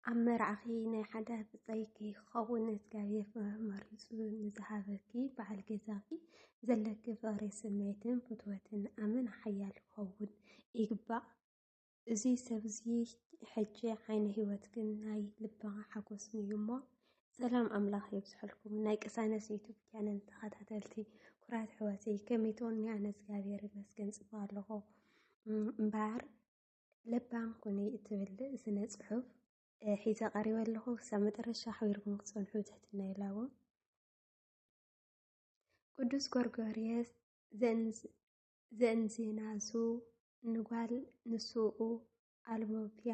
ኣብ መርዓኺ ናይ ሓደ ብፀይኪ ክኸውን እግዚኣብሔር መሪፁ ንዝሃበኪ በዓል ገዛኺ ዘለኪ ፍቕሪ ስምዒትን ፍትወትን ኣመና ሓያል ክኸውን ይግባእ። እዚ ሰብ እዚ ሕጂ ዓይነ ህይወት ግን ናይ ልቢ ሓጎስ እዩ እሞ ሰላም ኣምላኽ የብዝሐልኩም ናይ ቅሳነስ ዩቱብ ቻነል ተኸታተልቲ ኩራት ሕወተይ ከመይ ትኾኒ ኣነ እግዚኣብሔር ይመስገን ፅቡቅ ኣለኹ እምበኣር ለባም ኩኒ እትብል ስነ ፅሑፍ ሒዘ ቀሪበ ኣለኹ ክሳብ መጨረሻ ኣሕቢርኩም ክትፀንሑ ትሕትና ይላቦ ቅዱስ ጎርጎርየስ ዘእምዚ ናዙ ንጓል ንሱኡ ኣልቦፒያ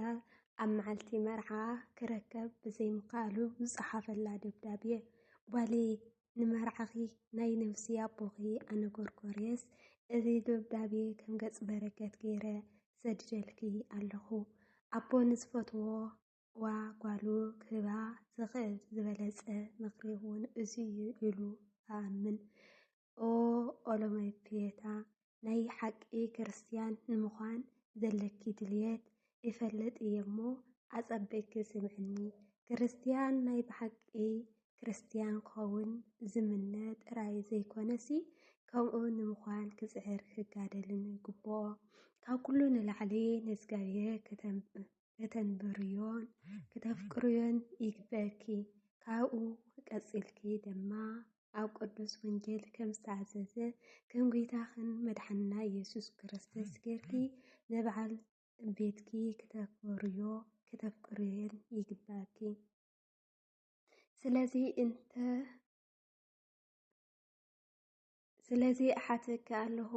ኣብ መዓልቲ መርዓኣ ክረከብ ብዘይምኽኣሉ ዝጸሓፈላ ደብዳቤ፣ ጓለይ ንመርዓኺ ናይ ነብሲ ኣቦኺ ኣነ ጎርጎርየስ እዚ ደብዳቤ ከም ገጽ በረከት ገይረ ሰድደልኪ ኣለኹ። ኣቦ ንዝፈትዋ ጓሉ ክህባ ዝኽእል ዝበለጸ ምኽሪ እውን እዚ'ዩ ኢሉ እኣምን። ኦ ኦሎመፒየታ፣ ናይ ሓቂ ክርስትያን ንምዃን ዘለኪ ድልየት እፈልጥ እየ'ሞ ኣጸቢቕኪ ስምዕኒ። ክርስትያን ናይ ብሓቂ ክርስትያን ክኸውን ዝምነ ጥራይ ዘይኮነሲ፣ ከምኡ ንምዃን ክጽዕርን ክጋደልን ይግብኦ። ካብ ኩሉ ንላዕሊ ንእግዚኣብሄር ከተንብርዮን ክተፍቅርዮን ይግበኪ። ካብኡ ቀጺልኪ ድማ ኣብ ቅዱስ ወንጌል ከም ዝተኣዘዘ ከም ጐይታኽን መድሓንና ኢየሱስ ክርስቶስ ጌርኪ ንበዓል ቤትኪ ክተኽብርዮ ክተፍቅርዮን ይግበኪ። ስለዚ እንተ ስለዚ እሓተኪ ኣለኹ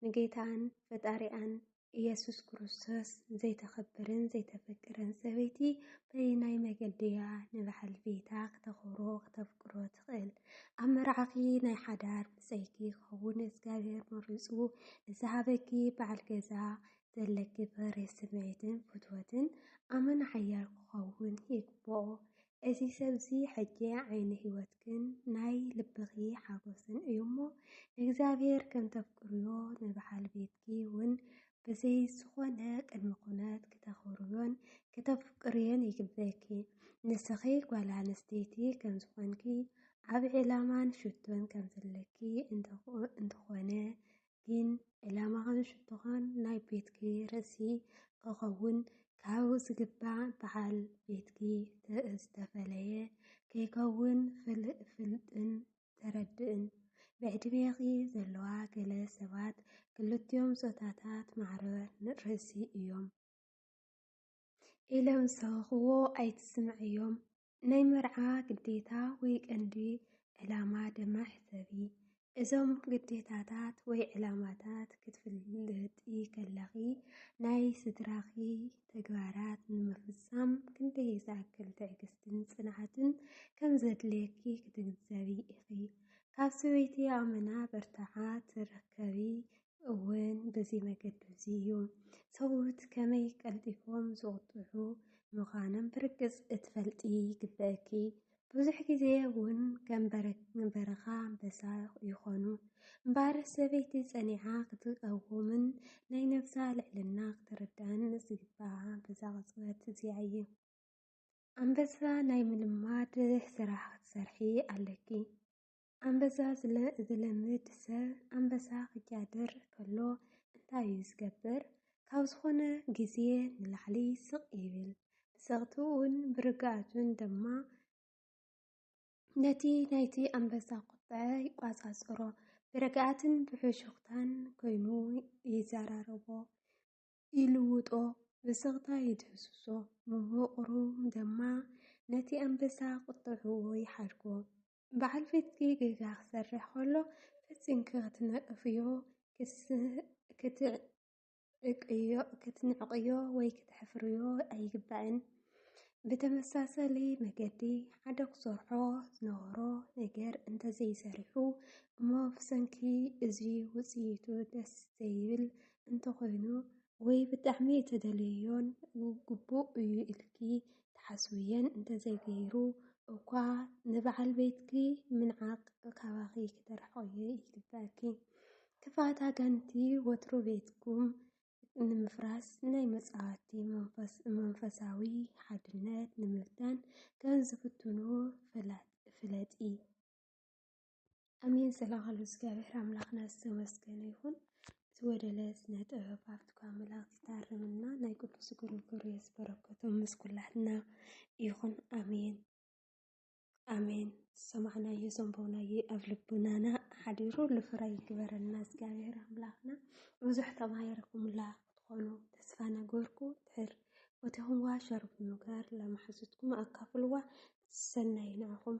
ንጌታን ፈጣሪኣን ኢየሱስ ክርስቶስ ዘይተኽብርን ዘይተፍቅርን ሰበይቲ በየናይ መገዲ እያ ንበዓል ቤታ ክተኽብሮ ክተፍቅሮ ትኽእል? ኣብ መርዓኺ ናይ ሓዳር ብፀይኪ ክኸውን እግዚኣብሔር መሪፁ ንዝሃበኪ በዓል ገዛ ዘለኪ ፍሬ ስምዒትን ፍትወትን ኣመና ሓያል ክኸውን ይግብኦ። እዚ ሰብ'ዚ ሕጂ ዓይኒ ህይወትክን ናይ ልብኺ ሓጐስን እዩ'ሞ፣ ንእግዚኣብሄር ከም ተፍቅርዮ፣ ንበዓል ቤትኪ'ውን ብዘይ ዝዀነ ቅድመ ኵነት ክተኽብርዮን ክተፍቅርዮን ይግበእኪ። ንስኺ ጓል ኣንስተይቲ ከም ዝዀንኪ፣ ዓቢ ዕላማን ሽቶን ከም ዘለኪ እንተዀነ ግን ዕላማኻን ሽቶኻን ናይ ቤትኪ ርእሲ ክኸውን ካብ ዝግባእ በዓል ቤትኪ ዝተፈለየ ከይከውን ፍልጥን ተረድእን። ብዕድሜኺ ዘለዋ ገለ ሰባት ክልቲኦም ጾታታት ማዕረ ርእሲ እዮም ኢሎም ዝሰበኽዎ ኣይትስምዕዮም። ናይ መርዓ ግዴታ ወይ ቀንዲ ዕላማ ድማ ሕሰቢ። እዞም ግዴታታት ወይ ዕላማታት ክትፍልጢ ከለኺ ናይ ስድራኺ ተግባራት ንምፍጻም ክንደይ ዝኣክል ትዕግስትን ጽንዓትን ከም ዘድልየኪ ክትግንዘቢ ኢኺ። ካብ ሰበይቲ ኣመና በርትዓ ትረከቢ እውን በዚ መገዲ እዚ እዩ። ሰብኡት ከመይ ቀልጢፎም ዝቑጥዑ ምዃኖም ብርግጽ እትፈልጢ ይግበእኪ። ብዙሕ ግዜ እውን ከም በረኻ ኣንበሳ ይኾኑ። እምበኣር ሰበይቲ ጸኒዓ ክትቀውምን ናይ ነብሳ ልዕልና ክትርዳእን ዝግብኣ በዛ ቅጽበት እዚኣ እዩ። ኣንበሳ ናይ ምልማድ ስራሕ ክትሰርሒ ኣለኪ። ኣንበሳ ስለ ዝለምድ ሰብ ኣንበሳ ክጃድር ከሎ እንታይ እዩ ዝገብር? ካብ ዝኾነ ግዜ ንላዕሊ ስቕ ይብል። ብጸቕትኡን ብርግኣቱን ድማ ነቲ ናይቲ ኣንበሳ ቁጥዐ ይቋጻጸሮ። ብርግኣትን ብሕሹኽታን ኮይኑ ይዘራረቦ፣ ይልውጦ፣ ብስቕታ ይድህስሶ። ምሁቕሩ ድማ ነቲ ኣንበሳ ቁጥዐኡ ይሓድጎ። በዓል ቤትኪ ጌጋ ክሰርሕ ከሎ ፈጺምኪ ክትነቕፍዮ፣ ክትንዕቕዮ ወይ ክተሕፍርዮ ኣይግባእን። ብተመሳሳሊ መገዲ፣ ሓደ ክሰርሖ ዝነበሮ ነገር እንተዘይሰሪሑ እሞ ብሰንኪ እዚ ውጽኢቱ ደስ ዘይብል እንተኾይኑ ወይ ብጣዕሚ እተደልዮዮን ግቡእ እዩ ኢልኪ ትሓስብዮን እንተዘይገይሩ እኳ ንበዓል ቤትኪ ምንዓቕ ካባኺ ክተርሕቕዮ ይግበኣኪ። ክፍኣት ኣጋንቲ ወትሩ ቤትኩም ንምፍራስ ናይ መጻወቲ መንፈሳዊ ሓድነት ንምብታን ከም ዝፍትኑ ፍለጢ። ኣሜን ስለኻሉ እግዚኣብሔር ኣምላኽና ዝተመስገነ ይኹን። እቲ ወደለ ስነ ጥበብ ኣብትኳ መላእኽት ይታርምና ናይ ቅዱስ ግርግር የዝበረከቶም ምስ ኩላትና ይኹን። ኣሜን ኣሜን። ዝሰማዕናዮ ዘንበብናዮ ኣብ ልቡናና ሓዲሩ ልፍረ ይግበረና እግዚኣብሔር ኣምላኽና። ብዙሕ ተማሂርኩምላ ክትኾኑ ተስፋ ነገርኩ ድሕር ቦቴኹምዋ ሸር ብምግባር ለማሕዙትኩም ኣካፍልዋ ሰናይ ንዕኹም።